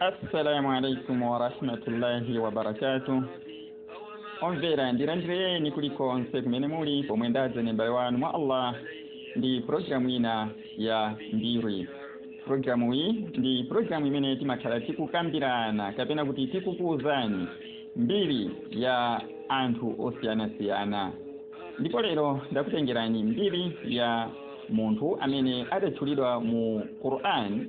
assalamu alaikum warahmatullahi wabarakatuh omvera ndilandireni kulikonse kumene muli pomwe ndadza ndi m'bale wanu mwa allah ndi programu ina ya mbiri programu iyi ndi programu imene timakhala tikukambirana kapena kuti tikukuwuzani mbiri ya anthu osiyanasiyana ndipo lero ndakutengerani mbiri ya munthu amene adatchulidwa mu quran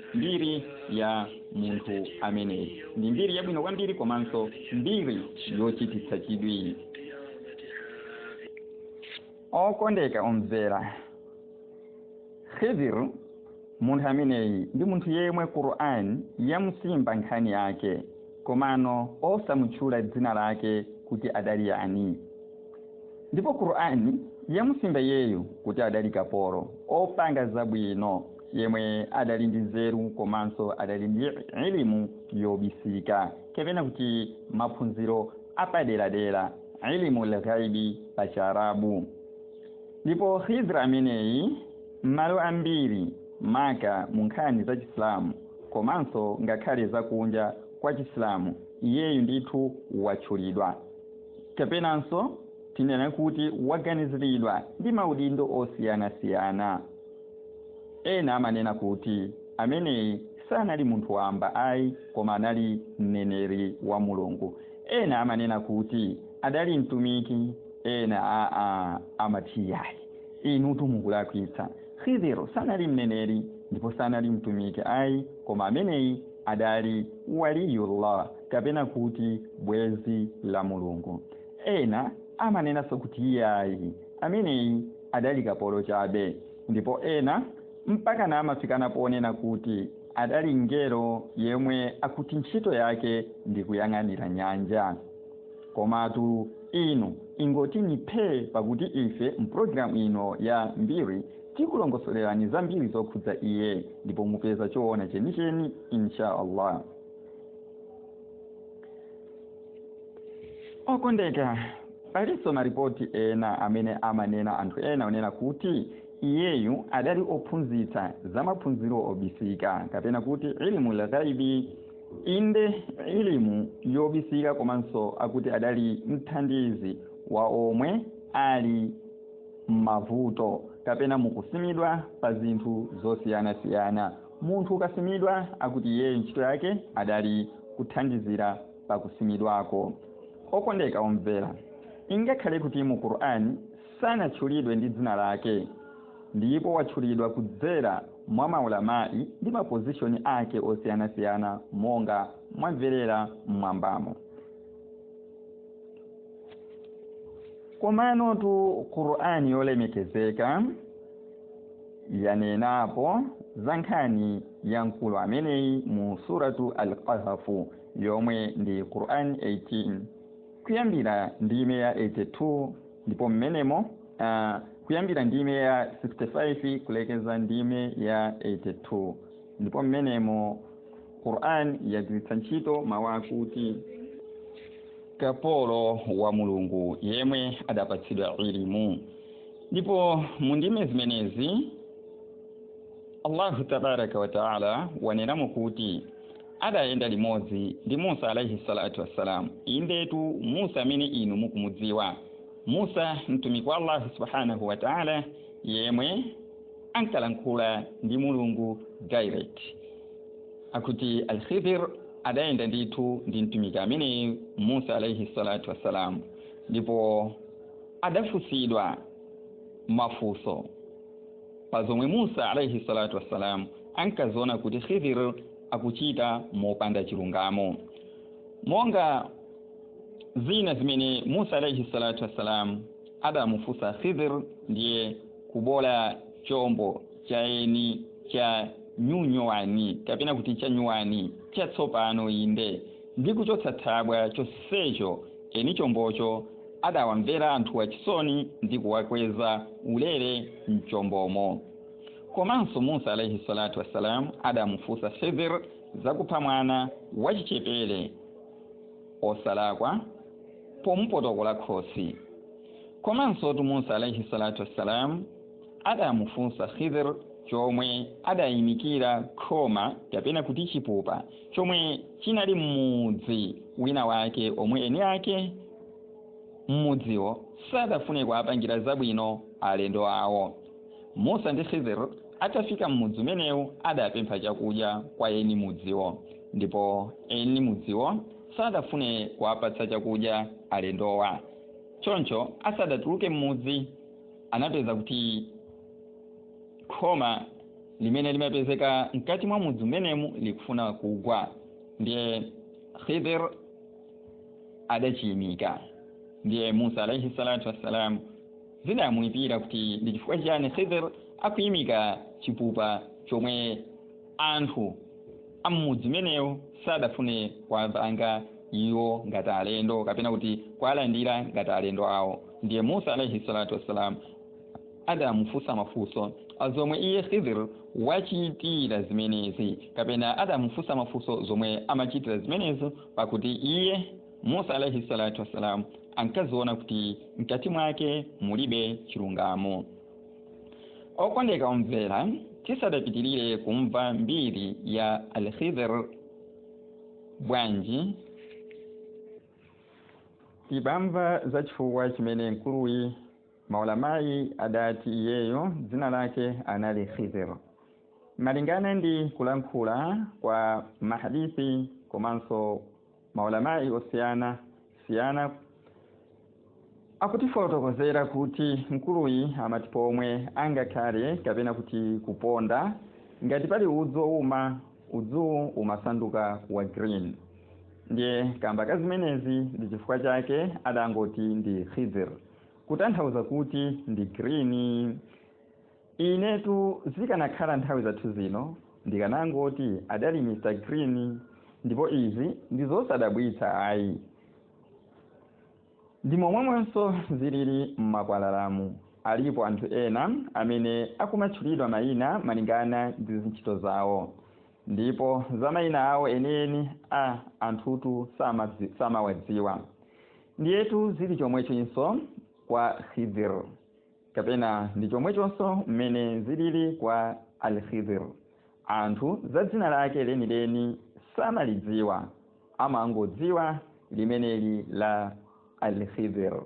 mbiri ya munthu ameneyi ndi mbiri yabwino kwambiri komanso mbiri yochititsa chidwi okondeka omvera khidr munthu ameneyi ndi munthu yemwe quran yamusimba nkhani yake komano osamutchula dzina lake kuti adali yani ndipo quran yamusimba yeyu kuti adali kapolo opanga zabwino yemwe adali ndi nzeru komanso adali ndi ilimu yobisika kapena kuti maphunziro apaderadera ilimu lghaibi pa chiarabu ndipo khidr ameneyi m'malo ambiri maka mu nkhani za chisilamu komanso ngakhale zakunja kwa chisilamu iyeyu ndithu watchulidwa kapenanso tinena kuti waganiziridwa ndi maudindo osiyanasiyana Ena amanena kuti ameneyi sanali munthu wamba ayi, koma anali mneneri wa Mulungu. Ena amanena kuti adali mtumiki, ena aa amati iyayi, inutu mukulakwitsa. Khidr sanali mneneri ndipo sanali mtumiki ayi, koma ameneyi adali Waliyullah kapena kuti bwenzi la Mulungu. Ena amanenanso kuti iyayi, ameneyi adali kapolo chabe ndipo ena mpakana amafikana ponena kuti adali mngelo yemwe akuti ntchito yake ndi kuyang'anira nyanja komatu inu ingotini phee pakuti ife mprogramu ino ya mbiri tikulongosolerani zambiri zokhudza iye ndipo mupeza choona chenicheni insha allah okondeka palinso maripoti ena amene amanena anthu ena onena kuti iyeyu adali ophunzitsa za maphunziro obisika kapena kuti ilimu lghaibi inde ilimu yobisika komanso akuti adali mthandizi wa omwe ali m'mavuto kapena mukusimidwa pa zinthu zosiyanasiyana Munthu ukasimidwa akuti iyeyo ntchito yake adali kuthandizira pa kusimidwako. Okondeka omvera, ingakhale kuti mu Qur'an sanatchulidwe ndi dzina lake, ndipo watchulidwa kudzera mwa ma Ulama'i ndi ma position ake osiyanasiyana monga mwamverera m'mwambamo. Komanotu Qur'an yolemekezeka. yanenapo za nkhani ya mkulu ameneyi mu suratu al-qahafu yomwe ndi quran 18 kuyambira ndime ya 82 ndipo mmenemo uh, kuyambira ndime ya 65 kulekeza ndime ya 82 ndipo mmenemo quran yagwiritsa ntchito mawu akuti kapolo wa mulungu yemwe adapatsidwa ilimu ndipo mu ndime zimenezi allahu tabaraka wataala wanenamo kuti adayenda limodzi ndi musa alaihi salatu wassalamu indetu musa amene inu mukumudziwa musa mtumiki wa allahu subhanahu wataala yemwe ankalankhula ndi mulungu direct akuti alkhidhir adayenda ndithu ndi mtumiki ameneyi musa alaihi salatu wassalam ndipo adafunsidwa mafunso pa zomwe musa alaihi salatu wassalam ankaziona kuti khidhir akuchita mopanda chilungamo monga zina zimene musa alaihi salatu wassalam adamufunsa khidhir ndiye kubola chombo cha eni cha nyunyuwani kapena kuti cha nyuwani chatsopano inde ndi kuchotsa thabwa chonsecho eni chombocho adawamvera anthu wachisoni ndi kuwakweza ulere mchombomo komanso musa alaihi salatu wassalam adamufunsa khidhir zakupha mwana wachichepere osalakwa pomupotokola khosi komansotu musa alaihi salatu wassalam adamufunsa khidr chomwe adayimikira khoma kapena kuti chipupa chomwe chinali m'mudzi wina wake omwe eni ake m'mudziwo sadafune kuwapangira zabwino alendo awo musa ndi khidr atafika m'mudzi umenewu adapempha chakudya kwa eni mudziwo ndipo eni mudziwo sadafune kuwapatsa chakudya alendowa choncho asadatuluke m'mudzi anapeza kuti khoma limene limapezeka mkati mwa mudzi umenemu likufuna kugwa ndiye khidir adachiyimika ndiye musa alaihi salatu wassalam zidamuyipira kuti ndi chifukwa chiyani khidir akuyimika chipupa chomwe Anthu a m'mudzi umenewu sadafune kuwapanga iwo ngati alendo kapena kuti kuwalandira ngati alendo awo. Ndiye Musa alaih salatu wassalam adamufunsa mafunso a zomwe iye Khidr wachitira zimenezi, kapena adamufunsa mafunso zomwe amachitira zimenezo, pakuti iye Musa alaih salatu wassalam ankaziona kuti mkati mwake mulibe chilungamo. okondeka omvera tisadapitirire kumva mbiri ya alkhidr bwanji tibamva za chifukwa chimene mkuluyi maulama adati iyeyo dzina lake anali khidr malingana ndi kulankhula kwa mahadisi komanso maulama osiyana siyana akutifotokozera kuti mkuluyi amati pomwe angakhale kapena kuti kuponda ngati pali udzu ouma udzuwu umasanduka wa green ndiye kamba ka zimenezi ndi chifukwa chake adangoti ndi khidr kutanthauza kuti ndi green Inetu zikanakhala nthawi zathu zino ndikanangoti adali Mr Green ndipo izi ndizosadabwitsa ayi ndimomwemonso zilili mmakwalalamu alipo anthu ena amene akumatchulidwa maina malingana ndi zintchito zawo ndipo za maina awo enieni anthutu samawadziwa ndiyetu zili chomwechonso kwa Khidir. kapena ndi chomwechonso mmene zilili kwa Al-Khidr. Anthu za dzina lake lenileni samalidziwa, amangodziwa limeneli la Al-Khidr.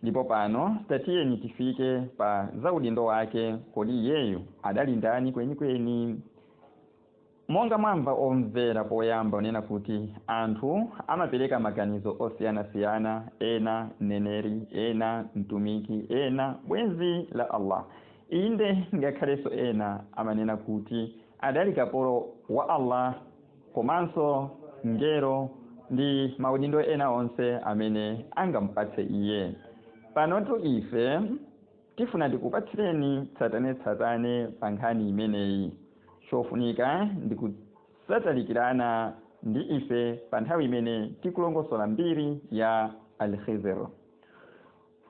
Ndipo pano tatiyeni tifike pa za udindo wake, kodi iyeyo adali ndani kwenikweni? Monga mwamva omvera poyamba kunena kuti anthu amapereka maganizo osiyanasiyana, ena, Mneneri, ena, Mtumiki, ena, bwenzi la Allah. Inde, ngakhalenso ena amanena kuti adali kapolo wa Allah komanso Mngelo ndi maudindo ena onse amene angamupatse Iye. Panotu ife. Tifuna tikupatsireni tsatanetsatane pa nkhani imeneyi. Chofunika ndi kusatalikirana ndi ife pa nthawi imene tikulongosola mbiri ya Al-Khidhr.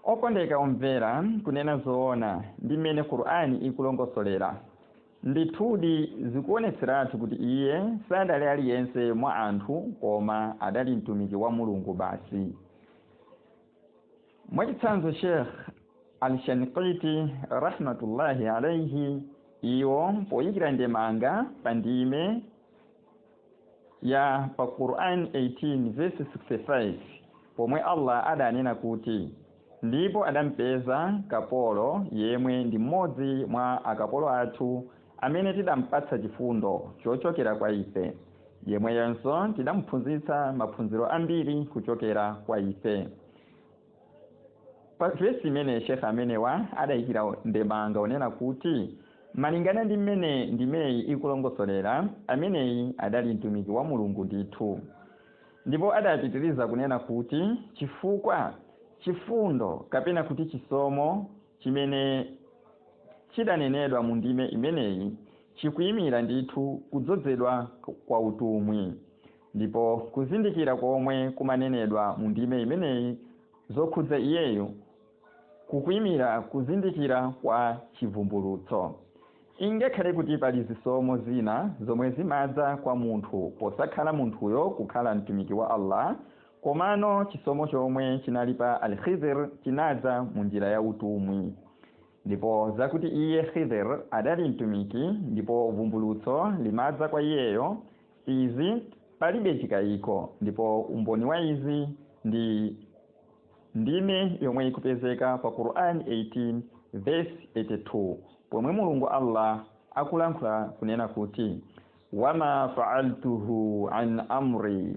Okondeka omvera, kunena zoona, ndi mmene Qur'an ikulongosolera, ndithudi zikuonetseratu kuti iye sadali aliyense mwa anthu koma adali Mtumiki wa Mulungu basi. mwachitsanzo sheikh al-shanqiti rahmatullahi alaihi iwo poyikira ndemanga pa ndime ya pa quran 18 verse 65 pomwe allah adanena kuti ndipo adampeza kapolo yemwe ndi mmodzi mwa akapolo athu amene tidampatsa chifundo chochokera kwa Ife, yemweyenso tidamuphunzitsa maphunziro ambiri kuchokera kwa Ife. Pa vesi imene Sheikh amenewa adaikira ndemanga onena kuti malingana ndi mmene ndimeyi ikulongosolera, ameneyi adali Mtumiki wa Mulungu ndithu. Ndipo adapitiriza kunena kuti chifukwa chifundo kapena kuti chisomo Chimene chidanenedwa mu ndime imeneyi chikuimira ndithu kudzodzedwa kwa utumwi. Ndipo kuzindikira komwe kumanenedwa mu ndime imeneyi zokhudza iyeyo kukuimira kuzindikira kwa chibvumbulutso. Ingakhale kuti pali zisomo zina zomwe zimadza kwa munthu posakhala munthuyo kukhala Mtumiki wa Allah, Komano chisomo chomwe chinali pa Al-Khidhr chinadza mu njira ya utumwi. Ndipo zakuti iye, Khidhr, adali Mtumiki ndipo vumbulutso limadza kwa iyeyo, izi palibe chikaiko ndipo umboni wa izi ndi ndime yomwe ikupezeka pa Qur'an 18-82 pomwe Mulungu Allah akulankhula kunena kuti, Wama fa'altuhu an amri.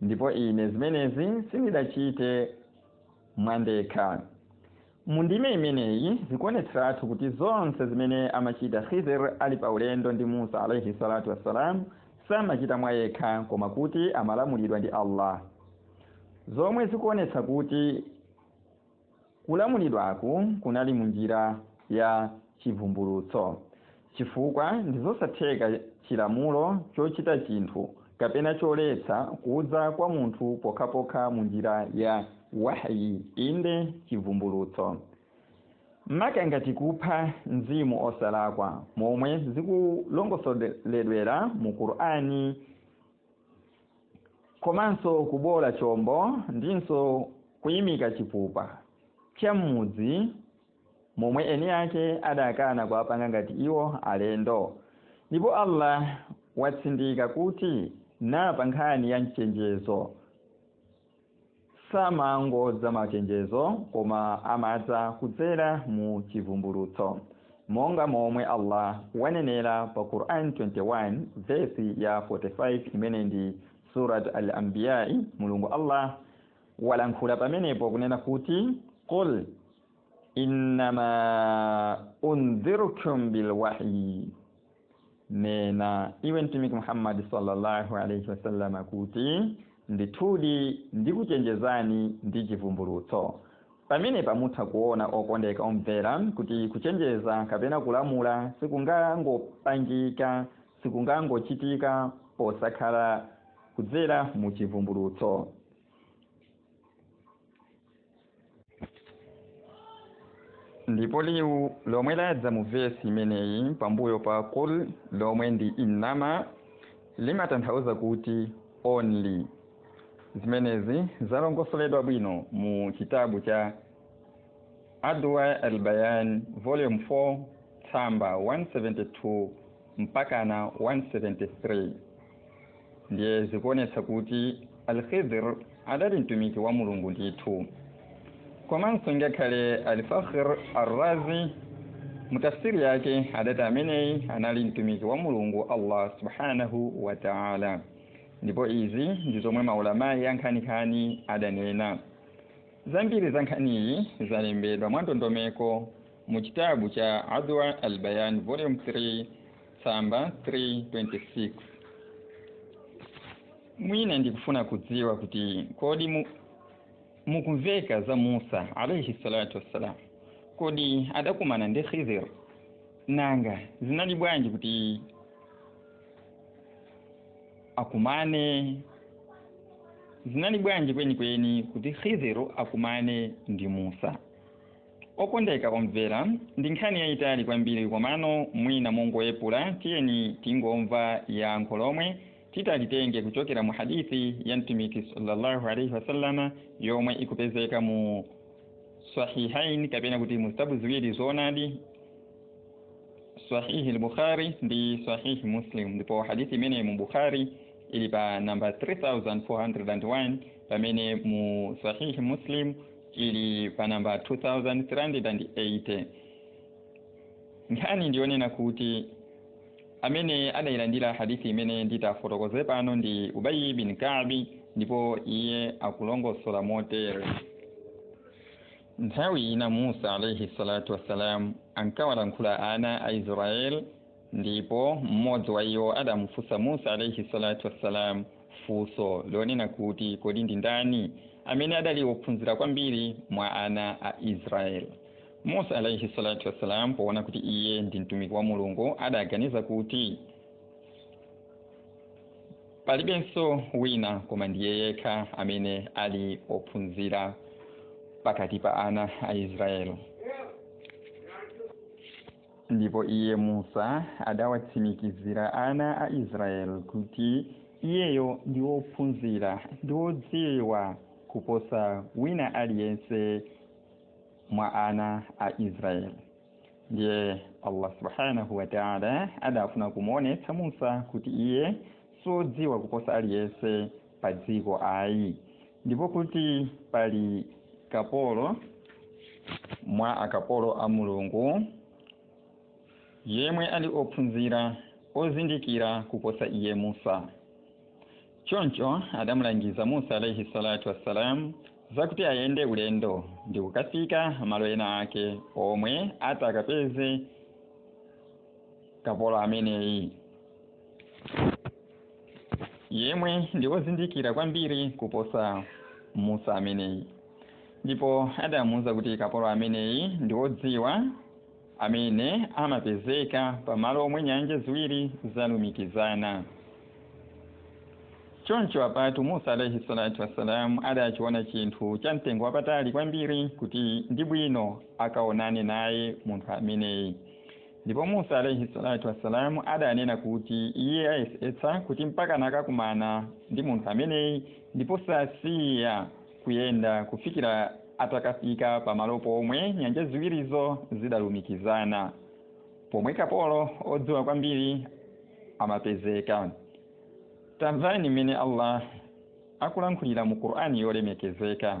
ndipo ine zimenezi sindidachite mwandekha mu ndime imeneyi zikuonetseratu kuti zonse zimene amachita khidr ali pa ulendo ndi musa alaihi salatu wassalam samachita mwa yekha koma kuti amalamulidwa ndi allah zomwe zikuonetsa kuti Kulamulidwaku kunali munjira ya chibvumbulutso, chifukwa ndizosatheka chilamulo chochita chinthu kapena choletsa kudza kwa munthu pokhapokha munjira ya wahyi, inde chibvumbulutso. Maka ngati kupha mzimu osalakwa, momwe zikulongosoledwera mu Qur'an. komanso kuboola chombo ndinso kuimika chipupa cha m'mudzi momwe eni ake adakana kuwapanga ngati iwo alendo ndipo Allah watsindika kuti napa nkhani ya mchenjezo samangodza machenjezo koma amadza kudzera mu chivumbulutso monga momwe Allah wanenera pa Quran 21 vesi ya 45 imene ndi Surat Al-Anbiya Mulungu Allah walankhula pamenepo kunena kuti qul innama undhirukum bilwahyi nena iwe mtumiki muhammadi sallallahu alaihi wasallama kuti ndithudi ndikuchenjezani ndi chivumbulutso pamenepa mutha kuona okondeka omvera kuti kuchenjeza kapena kulamula sikungangopangika sikungangochitika posakhala kudzera mu chivumbulutso ndipo liwu lomwe ladza mu vesi imeneyi pambuyo pa qul lomwe ndi innama limatanthauza kuti only zimenezi zalongosoledwa bwino mu chitabu cha adwa albayan volume 4 tsamba 172 mpakana 173 ndiye zikuonetsa kuti al-khidr adali mtumiki wa mulungu ndithu komanso ngakhale al-fakhr ar-razi mu tafsiri yake adati ameneyi anali mtumiki wa mulungu allah subhanahu wa ta'ala ndipo izi ndi zomwe maulama ankhaninkhani adanena zambiri za nkhaniyi zalembedwa mwa ndondomeko mu chitabu cha Adwa al-Bayan volume 3 tsamba 326 mwina nkufuna kudziwa kuti kodi mukumveka za Musa alayhi salatu wassalam kodi adakumana ndi Khidir nanga zinali bwanji kuti akumane zinali bwanji kwenikweni kuti Khidir akumane ndi Musa Okondeka omvera, ndi nkhani yayitali kwambiri komano mwina mongoyepula tiyeni tingomva yankho lomwe titalitenge kuchokera mu hadith ya Mtumiki sallallahu alaihi wasallam yomwe ikupezeka mu Sahihain kapena kuti mu zitabu ziwiri zoonadi Sahih al-Bukhari ndi Sahih Muslim ndipo hadith imene mu Bukhari ili pa namba 3401 pamene mu Sahih Muslim ili pa namba 2380 nkhani ndiyonena kuti amene adayilandira hadithi imene nditafotokoze pano ndi ubayi bin kabi ndipo iye akulongosola motere nthawi ina musa alaihi salatu wassalam ankawalankhula ana a israeli Ndipo mmodzi wa iwo adamufunsa Musa alaihi salatu wassalam funso lonena kuti kodi ndi ndani amene adali wophunzira kwambiri mwa ana a Israel. Musa alaihi salatu wassalam poona kuti iye ndi mtumiki wa Mulungu adaganiza kuti palibenso wina koma ndiye yekha amene ali ophunzira pakati pa ana a Israel. Ndipo iye, Musa, adawatsimikizira ana a Israel kuti iyeyo ndi wophunzira ndi wodziwa kuposa wina aliyense mwa ana a Israel. Ndiye Allah subhanahu wa ta'ala adafuna kumuonetsa Musa kuti iye siwodziwa kuposa aliyense pa dziko ayi. ndipo kuti pali kapolo mwa akapolo a mulungu yemwe ali ophunzira ozindikira kuposa iye musa choncho adamulangiza musa alaihi salatu wassalam zakuti ayende ulendo ndi kukafika malo ena ake omwe atakapeze kapolo ameneyi yemwe ndi wozindikira kwambiri kuposa musa ameneyi ndipo adamuwuza kuti kapolo ameneyi ndi wodziwa amene amapezeka pamalo omwe nyanja ziwiri zalumikizana choncho apatu musa alaihi salatu wassalam adachiona chinthu cha mtengo wapatali kwambiri kuti ndi bwino akaonane naye munthu ameneyi ndipo musa alaihi salatu wassalamu adanena kuti iye ayesetsa kuti mpaka nakakumana ndi munthu ameneyi ndipo sasiya kuyenda kufikira atakafika pamalo pomwe nyanja ziwirizo zidalumikizana pomwe kapolo odziwa kwambiri amapezeka tamvani mmene allah akulankhulira mu qur'ani yolemekezeka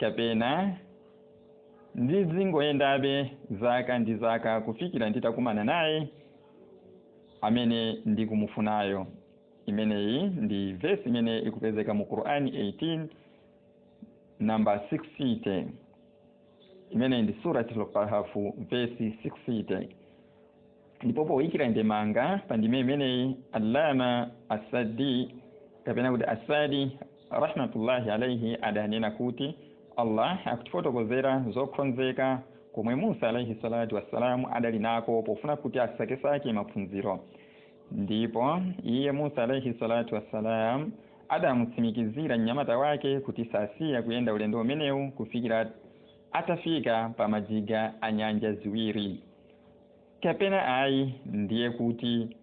Kapena ndizingoyendabe zaka ndi zaka kufikira nditakumana naye amene ndikumufunayo. Imeneyi ndi vesi imene ikupezeka mu Qur'ani 18 namba 60. Imeneyi ndi Suratul Kahfu vesi 60. ndipo poyikira ndemanga pa ndime imeneyi allama asadi kapena kuti asadi rahmatullahi alaihi adanena kuti allah akutifotokozera zokhonzeka komwe musa alaihi salatu wassalamu adali nako pofuna kuti asakesake maphunziro ndipo iye musa alaihi salatu wassalam adamutsimikizira mnyamata wake kuti sasiya kuyenda ulendo umenewu kufikira atafika pa majiga a nyanja ziwiri kapena ayi ndiye kuti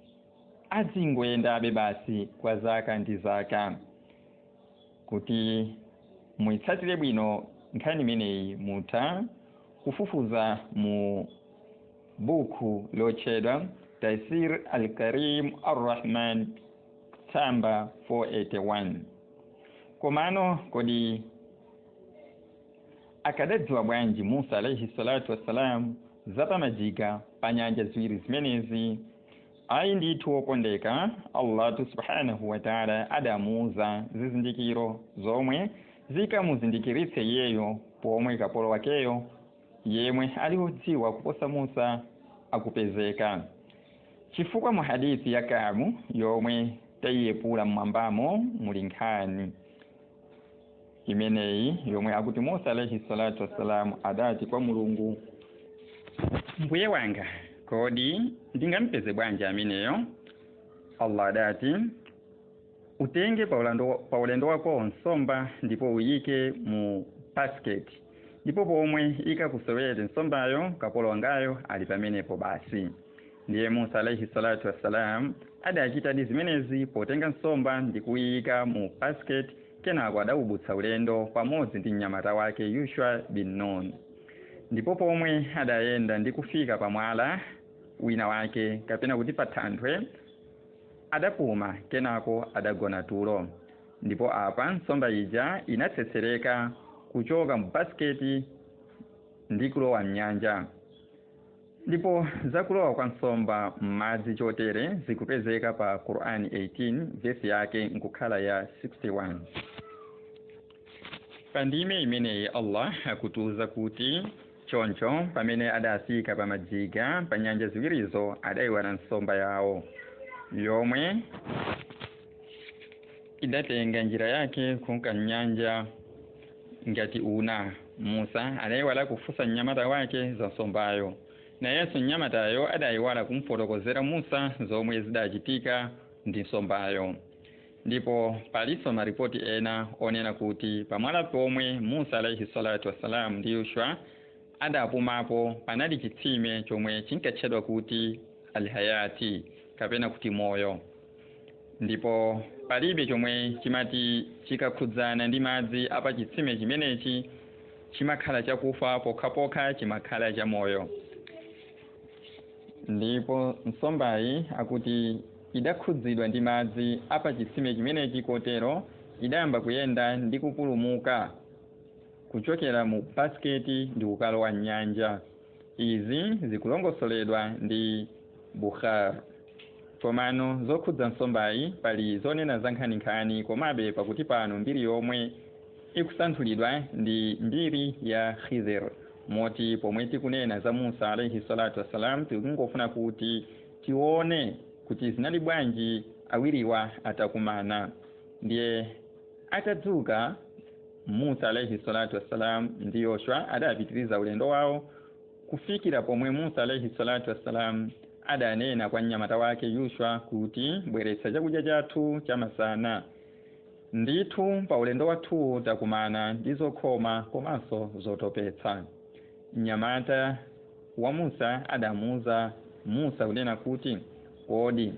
adzingoyendabe basi kwa zaka ndi zaka kuti muitsatire bwino nkhani imeneyi mutha kufufuza mu buku lotchedwa taisir al-karim ar-rahman tsamba 481 komano kodi akadadziwa bwanji musa alaihi salatu wassalam za pa majiga pa nyanja ziwiri zimenezi ayi ndithu wokondeka allahu subhanahu wataala adamuuza zizindikiro zomwe zikamuzindikiritse iyeyo pomwe kapolo wakeyo yemwe ali wodziwa kuposa musa akupezeka chifukwa mu hadithi ya kabu yomwe taiyepula mmwambamo muli nkhani imeneyi yomwe akuti musa alaihi salatu wassalam adati kwa mulungu mbuye wanga kodi ndingampeze bwanji ameneyo allah adati utenge pa ulendo wako nsomba ndipo uyike mu basket ndipo pomwe ikakusowere nsombayo kapolo wangayo ali pamenepo basi ndiye musa alaihi salatu wassalam adachitadi zimenezi potenga nsomba ndi kuyiyika mu basket kenako adawubutsa ulendo pamodzi ndi mnyamata wake yushwa bin nun ndipo pomwe adayenda ndi kufika pa mwala wina wake kapena kuti pa thanthwe adapuma kenako adagona tulo ndipo apa nsomba ija inatsetsereka kuchoka mu basiketi ndi kulowa mnyanja Ndipo za kulowa kwa nsomba m'madzi chotere zikupezeka pa Qur'an 18 vesi yake nkukhala ya 61. Pa ndime imeneyi Allah akutiuza kuti choncho pamene adafika pa majiga pa nyanja ziwirizo adaiwala nsomba yawo yomwe idatenga njira yake kunka m'nyanja ngati una. Musa adaiwala kufunsa mnyamata wake za nsombayo. Nayenso mnyamatayo adaiwala kumfotokozera Musa zomwe zidachitika ndi nsombayo. Ndipo palinso maripoti ena onena kuti pamwala pomwe Musa alaihi salatu wassalam ndi Yushwa adapumapo panali chitsime chomwe chinkatchedwa kuti Al-Hayati kapena kuti moyo. ndipo palibe chomwe chimati chikakhudzana ndi madzi a pa chitsime chimenechi chimakhala chakufa pokhapokha chimakhala chamoyo ndipo nsombayi akuti idakhudzidwa ndi madzi a pa chitsime chimenechi kotero idayamba kuyenda ndi kupulumuka kuchokera mu basiketi ndi kukalowa m'nyanja izi zikulongosoledwa ndi bukhari komano zokhudza nsombayi pali zonena za nkhaninkhani komabe pakuti pano mbiri yomwe ikusanthulidwa ndi mbiri ya khidhir moti pomwe tikunena za musa alaihi salatu wassalam tikungofuna kuti tione kuti zinali bwanji awiriwa atakumana ndiye Atadzuka, Musa alaihi salatu wassalam ndi Yoshua adapitiriza ulendo wawo kufikira pomwe Musa alaihi salatu wassalam adanena kwa mnyamata wake Yoshua kuti bweretsa chakudya chathu chamasana. Ndithu pa ulendo wathuwu takumana ndi zokhoma komanso zotopetsa. Mnyamata wa Musa adamuuza Musa kunena kuti, kodi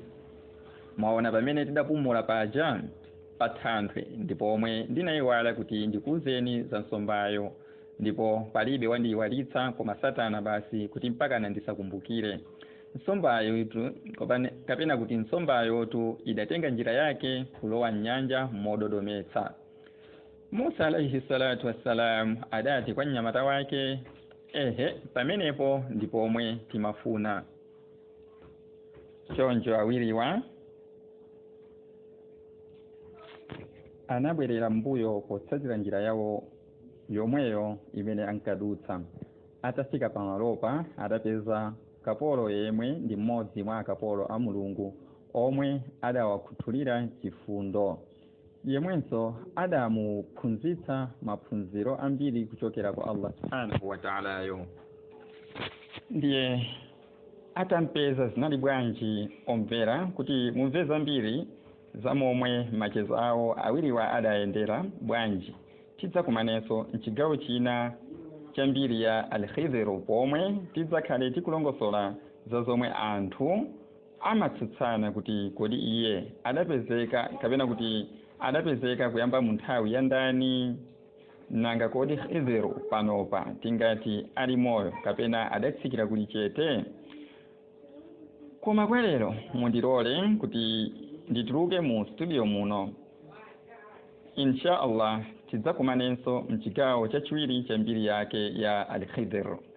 mwaona pamene tidapumula paja? pathanthwe ndi pomwe ndinayiwala kuti ndikuuzeni za nsombayo ndipo palibe wandiyiwalitsa koma satana basi kuti mpakana ndisakumbukire nsombayo itu kopane- kapena kuti nsombayotu idatenga njira yake kulowa mnyanja mododometsa musa alaihi salatu wassalam adati kwa mnyamata wake ehe pamenepo ndi pomwe timafuna choncho awiriwa anabwerera mbuyo potsatira njira yawo yomweyo imene ankadutsa atafika pamalopa adapeza kapolo yemwe ndi mmodzi mwa akapolo a mulungu omwe adawakhuthulira chifundo yemwenso adamuphunzitsa maphunziro ambiri kuchokera kwa allah subhanahu wataalayo ndiye atampeza zinali bwanji omvera kuti mumve zambiri za momwe machezo awo awiriwa adayendera bwanji tidzakumanenso mchigawo china cha mbiri ya alkhidhir pomwe tidzakhale tikulongosola za zomwe anthu amatsutsana kuti kodi iye adapezeka kapena kuti adapezeka kuyamba mu nthawi ya ndani nanga kodi Khidr panopa tingati ali moyo kapena adatsikira kuli chete koma kwa lero mundilole kuti ndituluke mu studio muno insha allah tidzakumanenso mchigawo chachiwiri cha mbiri yake ya al-Khidr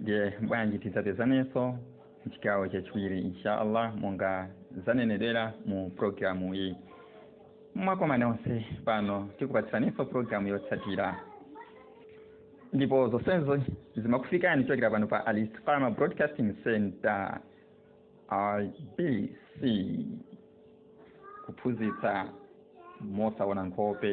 ndiye bwanji tidzapezanenso mchigawo chachiwiri insha allah monga zanenedwera mu programu iyi mwakomana onse pano tikupatsaninso programu yotsatira ndipo zonsezo zimakufikani kuchokera pano pa alistiqama broadcasting center ibc kuphunzitsa mosaona nkhope